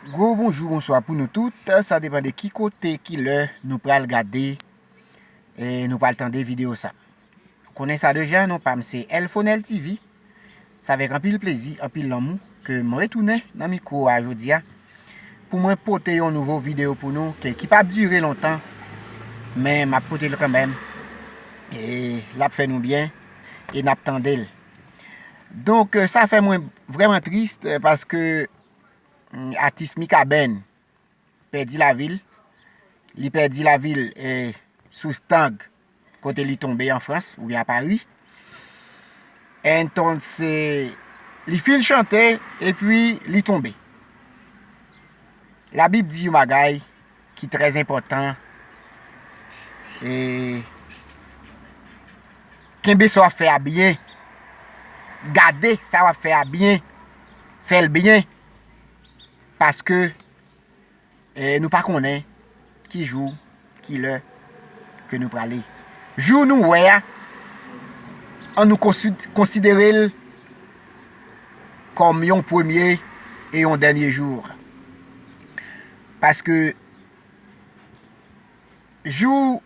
Gwo bonjou bonswa pou nou tout, sa depan de ki kote ki lè nou pral gade e nou pral tande video sa. Konnen sa deja non pam se Elfonel TV, sa vek anpil plezi, anpil lanmou ke m retounen nan mikwo a jodia pou mwen pote yon nouvo video pou nou ke ki pap dire lontan men map pote l kanmèm e lap fè nou byen e nap tande l. Donk sa fè mwen vreman trist paske atis Mikaben pèdi lavil, li pèdi lavil sou stang kote li tonbe an Frans ou byen a Pari. Entonn se li fin chante epi li tonbe. La bib di yon bagay ki trè enpòtan e kenbe sa w ap fè a byen gade sa w ap fè a byen fè l byen paske nou pa konnen ki jou ki lè ke nou prale jou nou wè a an nou konsidere l kòm yon premye e yon dènye jou Paske jou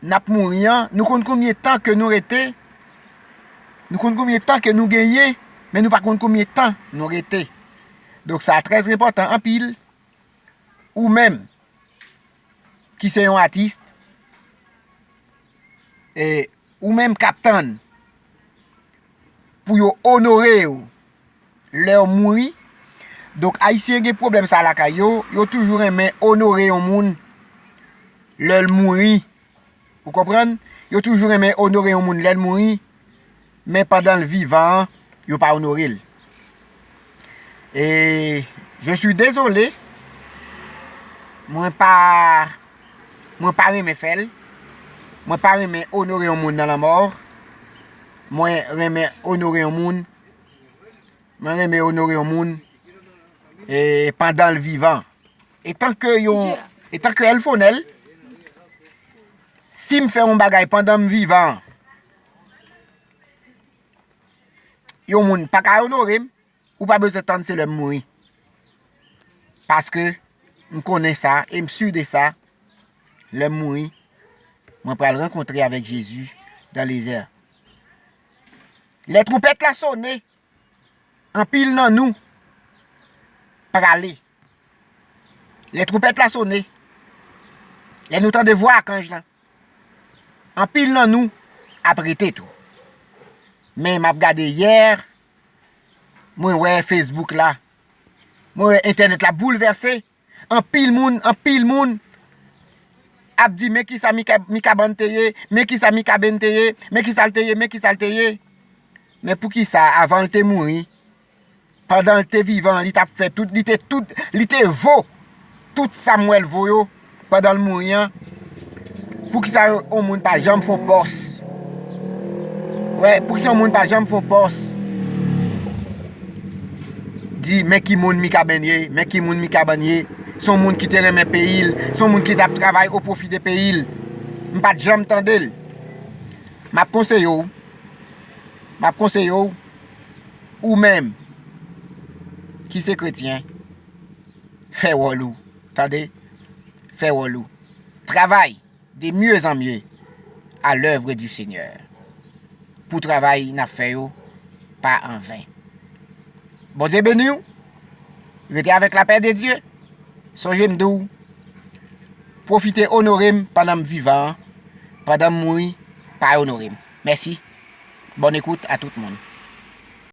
n ap mouri an, nou konn konbyen tan ke nou rete, nou konn konbyen tan ke nou genyen, men nou pa konn konbyen tan nou rete. Donk sa trè enpòtan anpil, ou menm ki se yon atis, e ou menm k ap tann pou yo onore ou, lèw mouri donk ayisyen gen pwoblèm sa lakay yo yo toujou renmen onore yon moun lèl mouri ou konprann yo toujou renmen onore yon moun lèl mouri men pandanl vivan yo pa onorel e je suis dezole mwen pa mwen pa renmen fèl mwen pa renmen onore yon moun nan lanmò mwen renmen onore yon moun Mwen renmen onore yon moun e pandan l vivan. E tanke yon, e tanke el fonel, si m fè yon bagay pandan m vivan, yon moun pa ka onore m, ou pa bezwen tann se lè m mouri. Paske m konnen sa, e m si de sa, lè m mouri, mwen pral renkontre avèk Jezi dan lezè. Lè twoupèt la sone, anpil nan nou prale. Lè twoupèt la sone, lè nou tande vwa akanj lan, anpil nan nou ap rete tou. Men m ap gade yè, mwen wè Facebook la, mwen wè entènèt la boulvèse. Anpil moun, anpil moun ap di men kisa Mikaban te ye, men kisa Mikaben te ye, men kisa l te ye, men kisa l te ye. Men pou kisa avan l te mouri, pandan l te vivan li t ap fè tout, li te vo tout Samuel vo yo pandan l mouri an, Poukisa yon moun pa janm fon pòs. Wè poukisa yon moun pa janm fon pòs. Di men ki moun Mikaben ye. Men ki moun Mikaben ye. Son moun ki te renmen peyi l. Son moun ki tap travay o pwofi de peyi l. M pat janm tande l. Map konseye w. Map konseye w. Ou menm. Ki se kretyen. Fè wòl ou. Tande! Fè wòl ou. Travay de mieux en mieux à l'œuvre du Seigneur pou travay nap fè yo pa an ven. Bondye beni w. Rete avèk lapè de Dye. Sonje m di w, pwofite onore m pandan m vivan an, pandan m mouri pa onore m. Mèsi. Bòn ekout a tout moun.